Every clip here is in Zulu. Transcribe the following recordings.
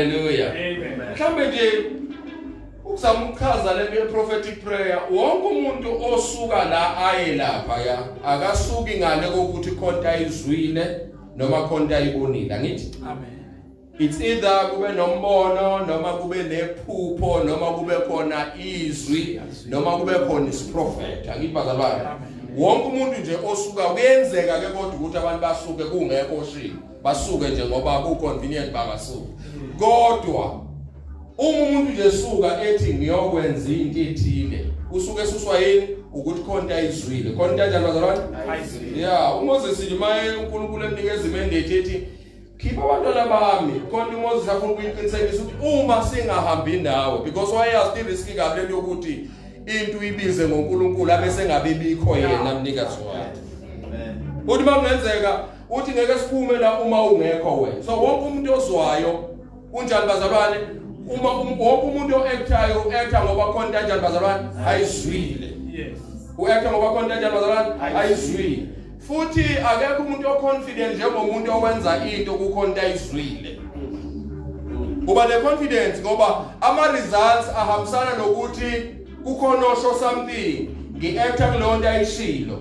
Haleluya. Amen. Mhlambe nje ukuzama ukuchaza le prophetic prayer wonke umuntu osuka la aye lapha ya akasuki ngale kokuthi khonta izwile noma khonta ibonile ngithi amen it's either kube nombono noma kube nephupho noma kube khona izwi noma kube khona isiprophet angibazalwane wonke umuntu nje osuka kuyenzeka ke kodwa ukuthi abantu basuke kungekho shini basuke nje ngoba ku convenient bangasuka kodwa uma umuntu nje suka ethi ngiyokwenza into ethile usuke esuswa yini ukuthi khonto ayizwile khona into enjalo bazalwane ya uMoses limaye uNkulunkulu emnikeza imendate ethi khipha abantwana bami khona uMoses afuna ukuyiqinisekisa ukuthi uma singahambi nawe because wayazi irisk kabi lento yokuthi into uyibize ngoNkulunkulu abese ngabe bikho yena mnikazi wayo uthi makungenzeka uthi ngeke siphume la uma ungekho wena so wonke umuntu ozwayo unjani bazalwane uma um-, wonke umuntu oactayo uacta ngoba khona into enjani bazalwane ayizwile yes uacta ngoba khona into enjani bazalwane ayizwile futhi akekho umuntu oconfident njengomuntu owenza into kukhona into ayizwile uba neconfidence ngoba ama results ahambisana nokuthi kukhona osho something ngiacta kuleyo nto ayishilo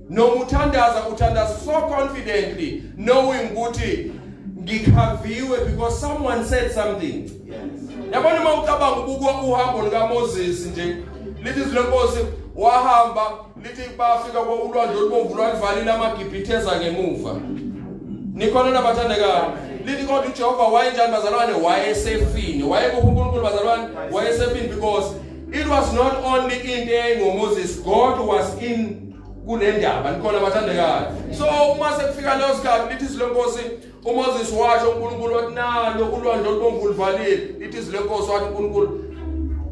noma uthandaza uthandaza so confidently knowing ukuthi ngikhaviwe because someone said something yabona uma ucabanga ukukwa uhambo likaMoses nje lithi izilenkosi wahamba lithi bafika kwaulwandle olubomvu lwalivalile amagibhithe eza ngemuva nikhona nabathandekayo lithi kodwa uJehova wayenjani bazalwane wayesefini wayekuphi uNkulunkulu bazalwane wayesefini because it was not only into engoMoses God was in kule ndaba nikhona bathandekayo so uma sekufika leyo sikhathi lithi izwi lenkosi umoses washo unkulunkulu wathi nalo ulwandle olubomvu luvalile lithi izwi lenkosi wathi unkulunkulu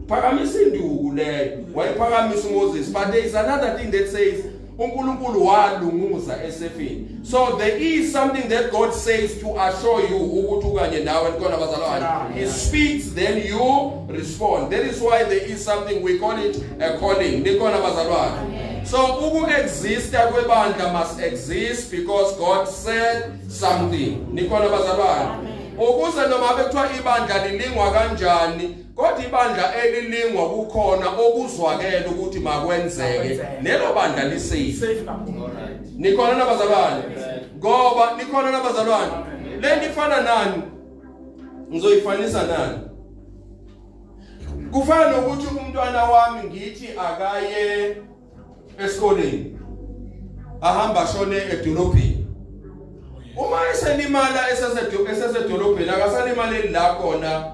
phakamisa induku leyo wayiphakamisa umoses but there is another thing that says unkulunkulu walunguza esefini So there is something that God says to assure you ukuthi ukanye nawe khona bazalwane. He speaks then you respond. That is why there is something we call it a calling. Nikhona bazalwane. So uku exist kwebandla must exist because God said something. Nikhona bazalwane. Ukuze noma bekuthiwa ibandla lilingwa kanjani Kodwa ibandla elilingwa kukhona okuzwakele ukuthi makwenzeke lelo bandla lisafe. Nikhona nabazalwane. Ngoba nikhona nabazalwane. Lento ifana nani? Ngizoyifanisa nani? Kufana nokuthi umntwana wami ngithi akaye esikoleni ahamba ashone edolobheni uma eselimala esesedolobheni akasalimaleli la khona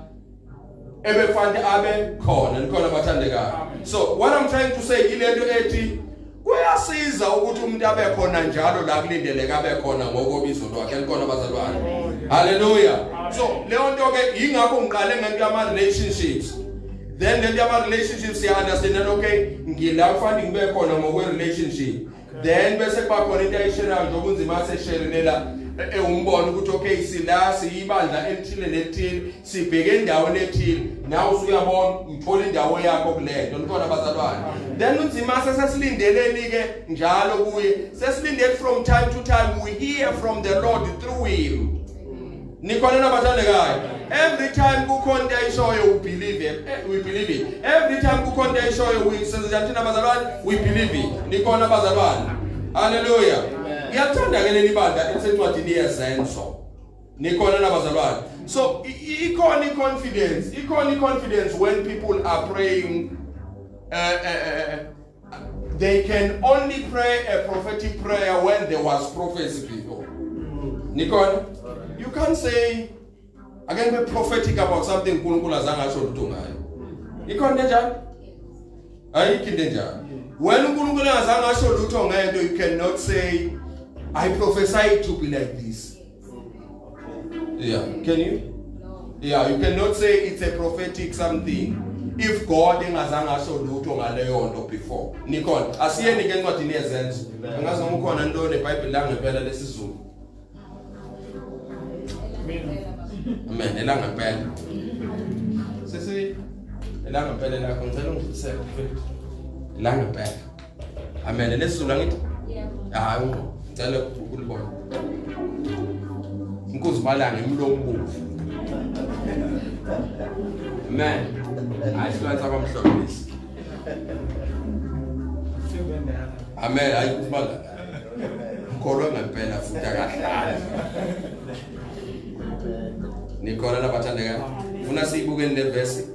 ebefanele abe khona nikhona bathandekayo so what i'm trying to say ilento ethi kuyasiza ukuthi umuntu abe khona njalo la kulindeleke abe khona ngokobizo lwakhe likhona bazalwane haleluya so leyo nto ke yingakho ngiqale ngento yama relationships then lento yama-relationship siya-understandana okay ngila kufanele ngibe khona ngokwe-relationship then bese kuba khona into ayisherayo njengoba unzima asesherile la ewumbona e, ukuthi okay sila siyibandla elithile nelithile sibheke endaweni ethile nawe usuyabona ngithola indawo yakho kulento nikhona bazalwane then unzima sesesilindeleni-ke njalo kuye sesilindele from time to time we hear from the lord through him nikhona nabathandekayo every time kukhona into ayishoyo u believe it eh, we believe it every time kukhona into ayishoyo we senza thina bazalwane we believe it nikhona bazalwane haleluya ngiyathanda ke leli bandla elisencwadini yezenzo nikhona nabazalwane so ikhona i confidence ikhona i confidence when people are praying uh, uh, uh, They can only pray a prophetic prayer when there was prophecy before. Nikon, you can't say I can be prophetic about something uNkulunkulu azange asho lutho ngayo. Ikhona njalo? Ayikho into enjalo. When uNkulunkulu engazange asho lutho ngento you cannot say I prophesy to be like this. Yeah, can you? Yeah, you cannot say it's a prophetic something if God engazange asho lutho ngaleyo nto before. Nikhona. Asiyeni ke encwadini yezenzo. Angazi noma ukhona into neBhayibheli langempela lesizulu. Amen. Elangempela. Sisi elangempela lakho ngicela ungifisele mfethu. Elangempela. Amen. Nesizulu angithi? Yebo. Hayi ngqo. Ngicela ukulibona. Inkosi balanga imlomo bovu. Amen. Hayi sibantu abamhlophe lesi. Amen. Hayi kubala. Mkholo ngempela futhi akahlali. Nikhola labathandekayo. Funa siyibukeni le verse.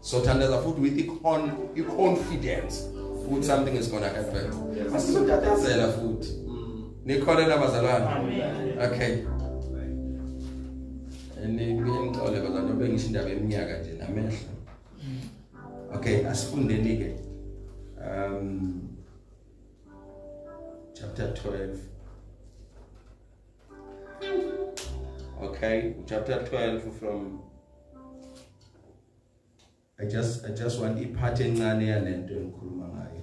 so thandaza futhi with icon iconfidence ukuthi something is going to happen asizotatazela futhi mm. nikholela bazalwane okay ningixole bazalwane bengisho indaba eminyaka nje namehlo mm. okay asifundeni ke um chapter 12 okay chapter 12 from I just I just want iphathi encane yalento engikhuluma ngayo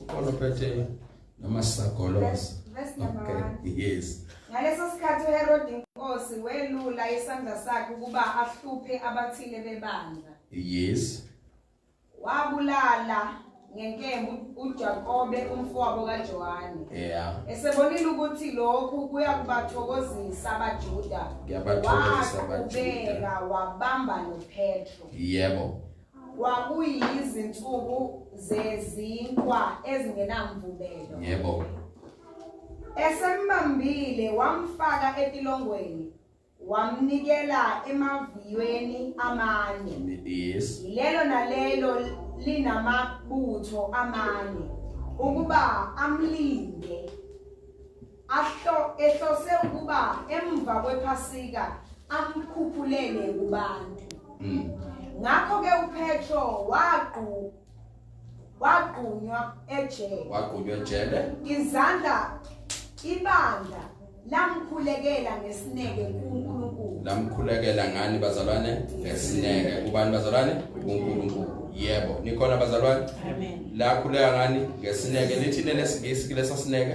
ukhona ophethe noma sisagolosa okay yes ngaleso sikhathi uherode inkosi welula isandla sakhe ukuba ahluphe abathile bebandla yes wabulala ngenkembu uJakobe umfowabo kaJohane yeah esebonile ukuthi lokhu kuya kubathokozisa abaJuda kuyabathokozisa abaJuda wabamba noPetro yebo Kwakuyizinsuku zezinkwa ezingenamvubelo. Yebo. Esembambile wamfaka etilongweni wamnikela emaviyweni amane. Yes. Lelo nalelo linamabutho amane ukuba amlinde. Ahlo ehlose ukuba emva kwePhasika amkhuphulele kubantu. Mm. Ngakho ke uPetro waqu wagqunywa ejele wagqunywa ejele izandla ibandla lamkhulekela ngesineke kuNkulunkulu lamkhulekela ngani bazalwane ngesineke kubani bazalwane kuNkulunkulu yebo nikhona bazalwane amen lakhuleka ngani ngesineke lithini lesingisi kulesa sineke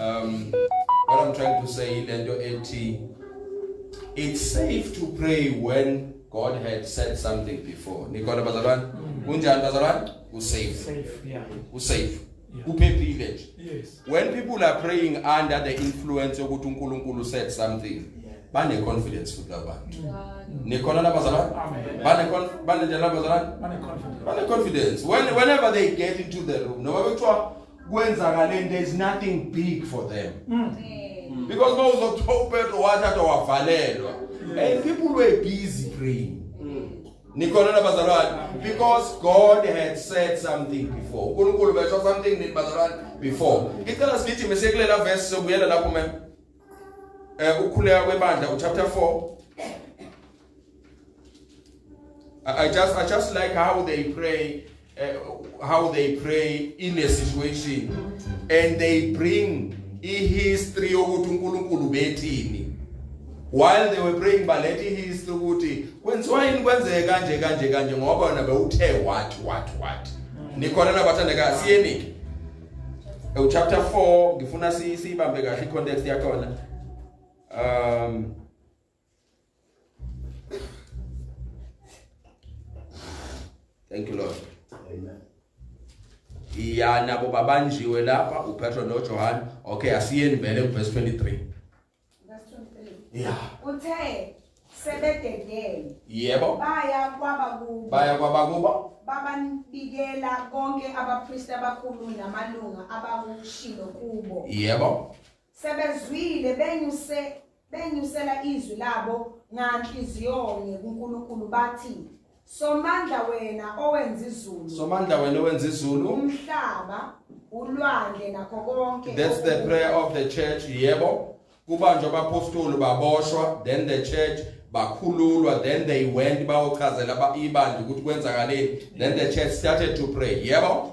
um what i'm trying to say ilento ethi it's safe to pray when god had said something before nikhona bazalwane mm. kunjani bazalwane u safe safe yeah u safe uphephile nje yes when people are praying under the influence yokuthi uNkulunkulu said something bane confidence futhi labantu nikhona labazalwane bane bane njalo labazalwane bane confidence when whenever they get into the room noma bethiwa kwenzakale into is nothing big for them mm. Mm. because uma uzothola upetro wathathwa wavalelwa and people were busy praying mm. nikhona nabazalwane because god had said something before unkulunkulu besho something nini bazalwane before ngicela sigithi mesekulela verse sobuyela lapho mem um eh, ukukhuleka kwebandla uchapter 4 I just, I just like how they pray, uh, how they pray in a situation, and they bring a history ukuthi uNkulunkulu bethini. While they were praying baletha ihistory ukuthi kwenziwa yini kwenzeke kanje kanje kanje ngoba wena bewuthe what what what. Nikhona nabathandeka siyenike. Ewu chapter 4 ngifuna siyibambe kahle i context yakhona. Um thank you lord amen ya nabo babanjiwe lapha upetro nojohane okay asiyeni vele kuverse 23 ya uthe sebededele yebo baya kwabakubo baya kwabakubo bababikela konke abapristi abakhulu namalunga abakushilo kubo yebo Sebezwile benyuse benyusela izwi labo nganhliziyonye kuNkulunkulu bathi Somandla wena owenza izulu. Somandla wena owenza izulu. Umhlaba, ulwandle nakho konke. That's the prayer of the church. Yebo. Kubanjwa abapostoli baboshwa, then the church bakhululwa, then they went bayochazela ibandla ukuthi kwenzakaleni. Then the church started to pray. Yebo.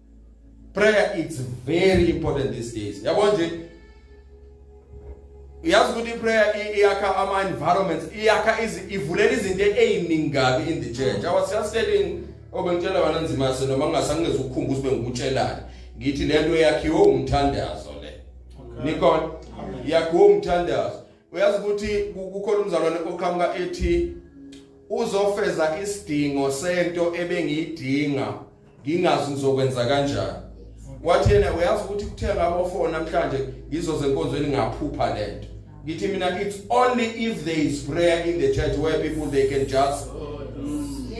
prayer it's very important these days yabo nje uyazi ukuthi prayer iyakha ama environments iyakha ivulela izinto eziningi kabi in the church i was just telling obengitshela oh, wena nzima se noma ngingasangeze ukukhumbuza ube ngikutshelani ngithi lento yakhiwe umthandazo le nikhona yakhiwe umthandazo uyazi ukuthi kukhona umzalwane oqhamuka ethi uzofeza isidingo sento ebengiyidinga ngingazi ngizokwenza kanjani wathi yena uyazi ukuthi kuthenga abofona namhlanje ngizoze enkonzweni ngaphupha lento ngithi mina it's only if there is prayer in the church where people they can just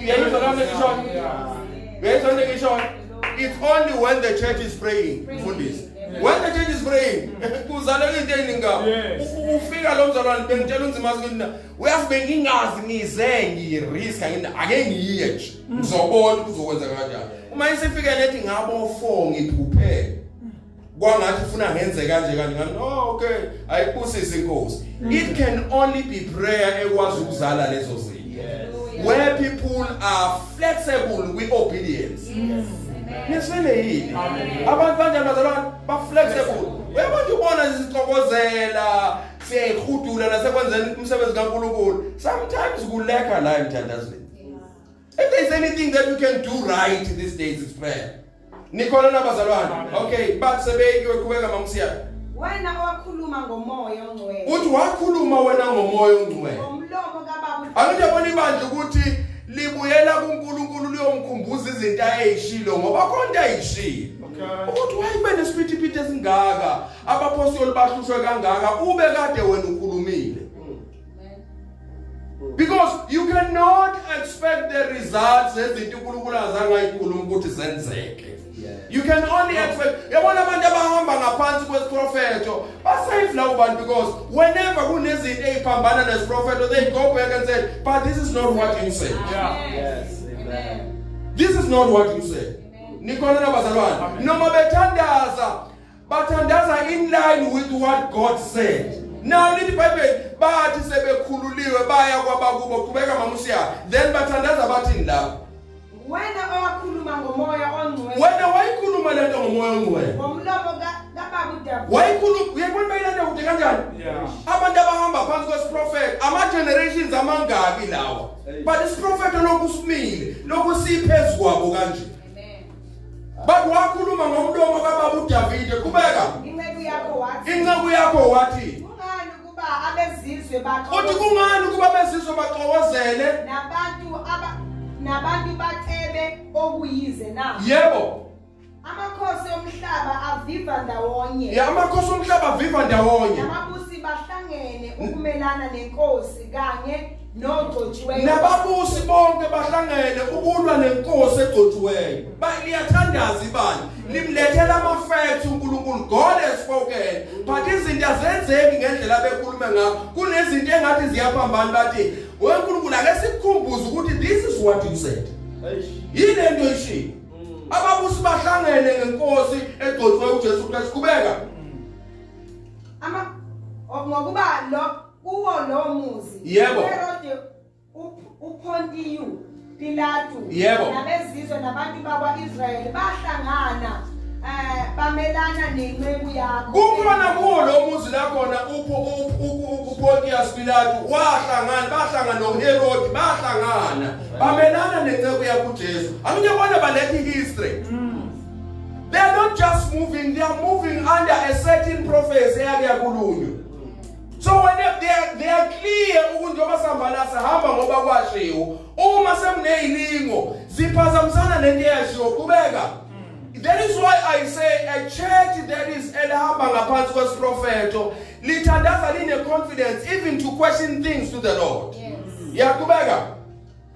uyayizwa lami ngisho uyayizwa ngisho it's only when the church is praying mfundisi When the change is praying, kuzaleka into eningi ngabo. Ufika lo mzalwane bengitshela unzima ukuthi na uyazi bengingazi ngize ngirisk ngini ake ngiye nje. Mm. Ngizobona ukuthi uzokwenza kanjani. Uma isifike lethi ngabo 4 ngiphuphele. kwangathi ufuna ngenze kanje kanje ngani no oh, okay ayibusise inkosi mm. it can only be prayer ekwazi ukuzala lezo zinto where people are flexible with obedience nifile yini abantu banjani bazalwane ba-flexible uyabo nje ubona sizixokozela siyayihudula nasekwenzeni umsebenzi kankulunkulu sometimes kulekha la emthandazweni if there's anything that you can do right these days is prayer nikhona nabazalwane okay bathi sebeyikiwe qhubeka mamsiyana wena owakhuluma ngomoya ongcwele uthi wakhuluma wena ngomoya ongcwele ngomlomo kababa angithi yabona ibandla ukuthi libuyela kuNkulunkulu liyomkhumbuza izinto ayeyishilo ngoba konke ayishilo ukuthi wayibe nesiphithi-phithi esingaka abaphostoli bahlushwe kangaka ube kade wena ukhulumile because you cannot expect the results ezinto uNkulunkulu azangayikhuluma ukuthi zenzeke You can only expect yabona abantu abahamba ngaphansi kwesiprofeto basave lawo bantu because whenever kunezinto eziphambana nesiprofeto they go back and say but this is not what you said. Yeah. Yes. Amen. This is not what you said. Nikhona nabazalwane noma bethandaza Bathandaza in line with what God said. Now lithi Bible bathi sebekhululiwe baya kwabakubo qhubeka mama usiya then bathandaza bathini lapho. Wena owakhuluma ngomoya ongcwele. Wena wayikhuluma lento ngomoya ongcwele. Ngomlomo ka wayikhuluma uyabona bayilanda kude kanjani abantu abahamba phansi kwesiprofethi ama-generations amangaki lawa but isiprofethi lokhu simile lokhu siyiphezu kwabo kanje Bathi wakhuluma ngomlomo kababa uDavide kubeka. Inceku yakho wathi. Inceku yakho wathi. Kungani ukuba abezizwe bakho. Uthi kungani ukuba abezizwe baxokozele? Nabantu aba nabantu bacebe okuyize na? Yebo. Amakhosi omhlaba aviva ndawonye. Ya amakhosi omhlaba aviva ndawonye. Namabusi bahlangene ukumelana nenkosi kanye nogcotshiweyo nababusi bonke bahlangene ukulwa nenkosi egcotshiweyo bayathandaza ibani limlethela ama facts uNkulunkulu God has spoken but izinto azenzeki ngendlela bekhulume ngayo kunezinto engathi ziyaphambana bathi weNkulunkulu ake sikukhumbuze ukuthi this is what you said yini into ishilo mm. ababusi bahlangene ngenkosi egcotshiweyo uJesu Kristu kubeka mm. ama ngokuba lo kuwo lo muzi Yebo. uherode uP- uphontiyu pilatu Yebo. nabezizwe nabantu bakwa-israyeli bahlangana um bamelana nenceku yakho kukhona kuwo lo muzi la khona upontius pilatu wahlangana bahlangana noherodi bahlangana bamelana nenceku yakho ujesu akunye bona baletha i-history they are not just moving they are moving under a certain prophecy eyake yakulunywa So when they, they, are, they are clear ukuthi njengoba sihambana sihamba ngoba kwashiwo uma sekuneyilingo ziphazamisana nento eyashiwo qhubeka That is why I say a church that is elihamba ngaphansi kwesiprofeto lithandaza line confidence even to question things to the Lord. Yes. Yaqhubeka.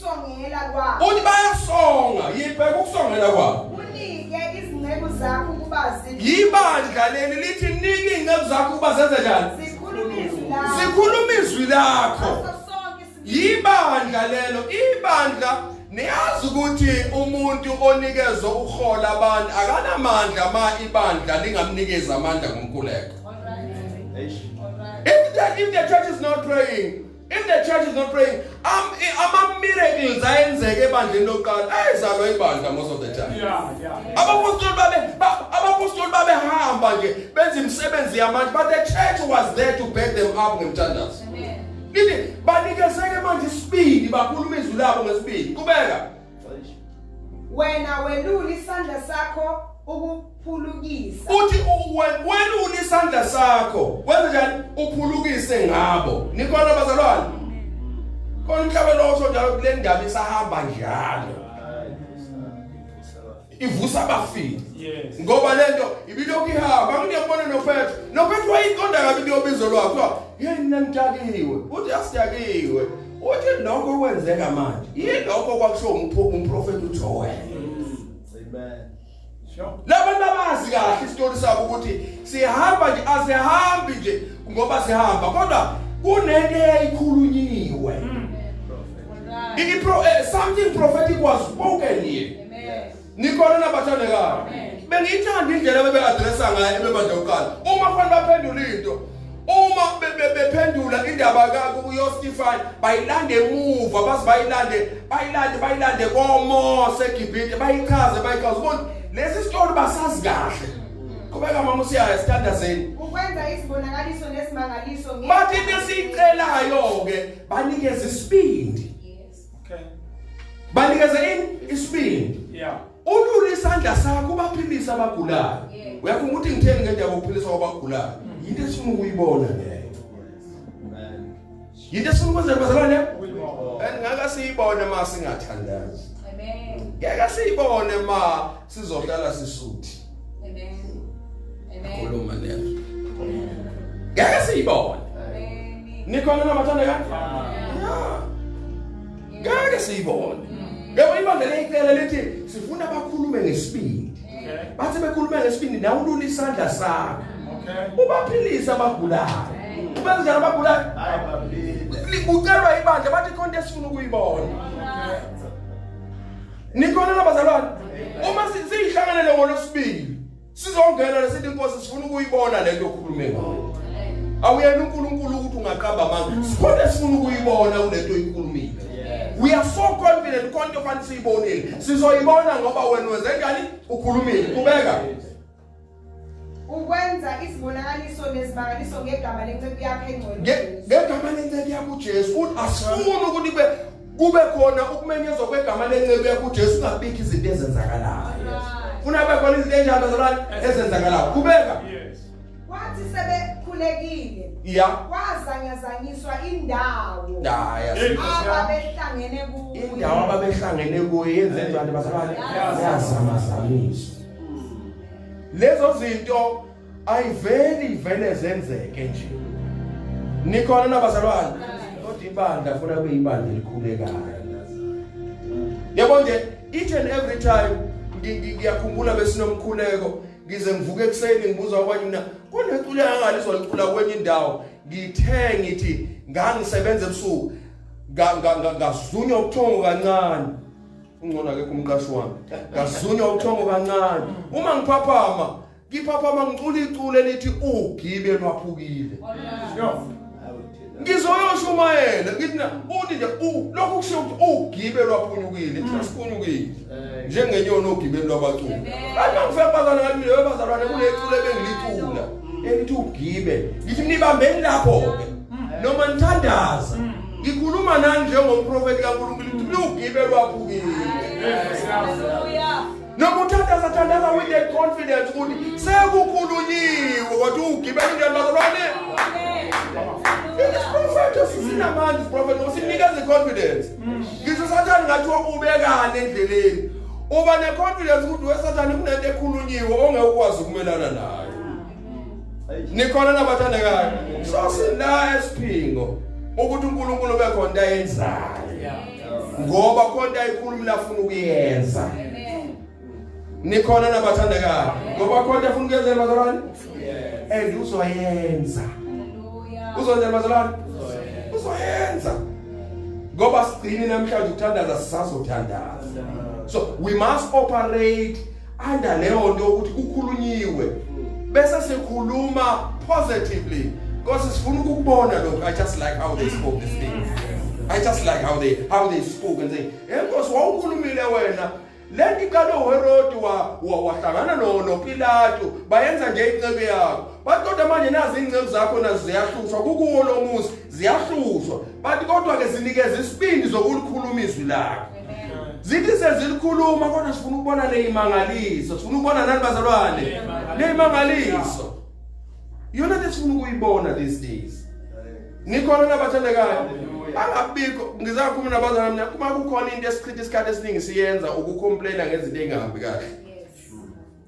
Songela kwabo. Uthi bayasonga, yibheka ukusongela kwabo. Unike izinceku zakho ukuba zithi. Yibandla leli lithi nike izinceku zakho ukuba zenze njani? Zikhuluma izwi lakho. Zikhuluma izwi lakho. Yibandla lelo, ibandla Niyazi ukuthi umuntu onikezwe uhola abantu akanamandla ma ibandla lingamnikeza amandla ngomkhuleko. If the, if the church is not praying If the church is not praying, um, ama miracles ayenzeke ebandleni lokuqala ayizalwa ibandla most of the time. Yeah, yeah. Abapostoli babe abapostoli babehamba nje benza imisebenzi yamanje but the church was there to back them up ngemthandazo. Amen. Nini banikezeke manje isibindi bakhuluma izwi labo ngesibindi. Kubeka. wena welula isandla sakho ukuphulukisa uthi welula isandla sakho wenze njani uphulukise ngabo nikhona bazalwane khona umhlaba lowo sonjalo kule ndaba isahamba njalo ivusa abafile ngoba lento ibilokhu ihamba ngiyabona noPetro noPetro wayiqonda kabi kuyobizo lwakho yini nangidakiwe uthi asidakiwe uthi lokho kwenzeka manje yilokho kwakusho umprofeti uJoel amen labantu abazi kahle isitori sabo ukuthi sihamba nje asihambi nje ngoba sihamba kodwa kunento eyayikhulunyiwe hmm. It, it, uh, eh, something prophetic was spoken here. nikhona nabathandekayo bengiyithanda indlela bebe-adressa ngayo ebebandla kuqala uma kufanele baphendula into uma bephendula indaba yostifan bayilande emuva baze bayilande bayilande bayilande komose egibhide bayichaze bayichaze ubona lesi sitori basazi kahle qhubeka mama usiyaya sithandazeni ukwenza izibonakaliso nesimangaliso bathi besiyicelayo-ke banikeza isibindi okay banikeza ini isibindi yeah ulule isandla sakho ubaphilisa abagulayo uyafunga ukuthi ngitheni ngeke yakuphilisa abagulayo mm. into esifuna ukuyibona leyo yinto esifuna ukwenza bazalwane and ngaka siyibone ma singathandazi amen ngeke siyibone ma sizohlala sisuthi khuluma nezwi ngeke siyibone nikhona nabathanda kanti ngeke siyibone yebo ibandla leyicela lithi sifuna bakhulume ngesibindi bathi bekhulume ngesibindi nawe ulula isandla sakho ubaphilise abagulayo ubenzela abagulayo kucelwa ibandla bathi khona esifuna ukuyibona Nikhona nabazalwane uma siyihlanganele ngolosibili sizongena lesithi inkosi sifuna ukuyibona lento okhulume ngayo. Awuyena uNkulunkulu ukuthi ungaqamba amanga. Sikhona sifuna ukuyibona kulento oyikhulumile. We are so confident konke ofanele siyibonile. Sizoyibona ngoba wena wenze njani? Ukhulumile. Kubeka. ukwenza izibonakaliso nezimangaliso ngegama lenceku yakhe engcwele ngegama lenceku yakho uJesu futhi asifuni ukuthi kube kube khona ukumenyezwa kwegama lenceku yakho uJesu ungabiki izinto ezenzakalayo funa kube khona izinto enjalo zolani ezenzakalayo kubeka wathi sebekhulekile ya kwazanyazanyiswa indawo ababehlangene kuyo indawo ababehlangene kuyo yenze njani bazalwane yazamazamisa lezo zinto ayiveli ivele zenzeke nje nikhona nabazalwane kodwa ibandla funa kube ibandla elikhulekayo yabo nje each and every time ngiyakhumbula besinomkhuleko ngize ngivuke ekuseni ngibuza kwabanye mina kuneculi angalizwa licula kwenye indawo ngithe ngithi ngangisebenza ebusuku ngazunywa ubuthongo kancane ungcono akekho umqashi wami ngazunywa uthongo kancane uma ngiphaphama ngiphaphama ngicula iculo elithi ugibe lwaphukile ngizoyosho umayele ngithi na uthi nje lokhu kusho ukuthi ugibe lwaphunyukile mm. siphunyukile njengenyoni ogibeni lwabaculi kanti angifike bazana ngathi mina bebazalwane kulecula ebengilicula mm. elithi ugibe ngithi nibambeni lapho-ke mm. noma nithandaza Ngikhuluma nani njengomprofeti kaNkulunkulu ukuthi lugibe lwaphukile. Noma uthandaza thandaza with that confidence ukuthi sekukhulunyiwe kodwa ugibe into yabalwane. This prophet usinamandla prophet usinikeza iconfidence. Mm. Ngisho sathane ngathi ubekane endleleni. Uba neconfidence ukuthi wesathane kunento ekhulunyiwe ongeke ukwazi ukumelana nayo. nikhona nabathandekayo so sila esiphingo ukuthi uNkulunkulu bekhona into ayenzayo ngoba khona ayikhulumi nafuna ukuyenza nikhona nabathandekayo ngoba khona afuna ukuyenzela bazalwane and uzoyenza uzonzela bazalwane uzoyenza ngoba sigcini namhlanje ukuthandaza sisazothandaza so we must operate under leyo nto ukuthi kukhulunyiwe bese sikhuluma positively because sifuna ukukubona lokho i just like how they spoke this thing i just like how they how they spoke and say enkosi wawukhulumile wena lento iqale uherodi wahlangana nopilato bayenza nje incebo yakho bathi kodwa manje nazi iy'nceku zakho nazo ziyahlushwa kukuwo lo muzi ziyahlushwa bathi kodwa-ke zinikeza isibindi zokulukhuluma izwi lakho zithi sezilikhuluma kodwa sifuna ukubona leyimangaliso sifuna ukubona nani bazalwane leyimangaliso yona le sifuna ukuyibona these days nikhona nabathandekayo angabikho ngizakhuluma nabazalwane mina uma kukhona into esichitha isikhathi esiningi siyenza ukucomplaina ngezinto engahambi kahle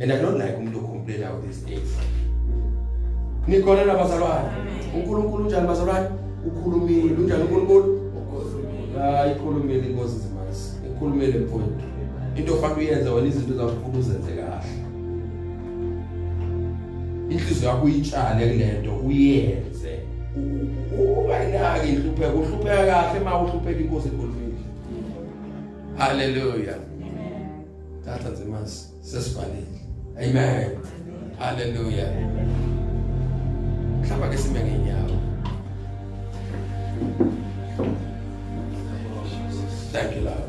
and i don't like umuntu complain out these days nikhona nabazalwane uNkulunkulu unjani bazalwane ukhulumile unjani uNkulunkulu hayi ikhulumile inkosi zimasi ikhulumile mfowethu into ofanele uyenze wena izinto zakufuna uzenze kahle inhliziyo yakho uyitshale kulento uyenze ubayinaki inhlupheko uhlupheka kahle uma uhlupheka inkosi ekhulumile haleluya thatha nje manje sesifanele amen haleluya mhlawumbe ke sime ngenyawo thank you lord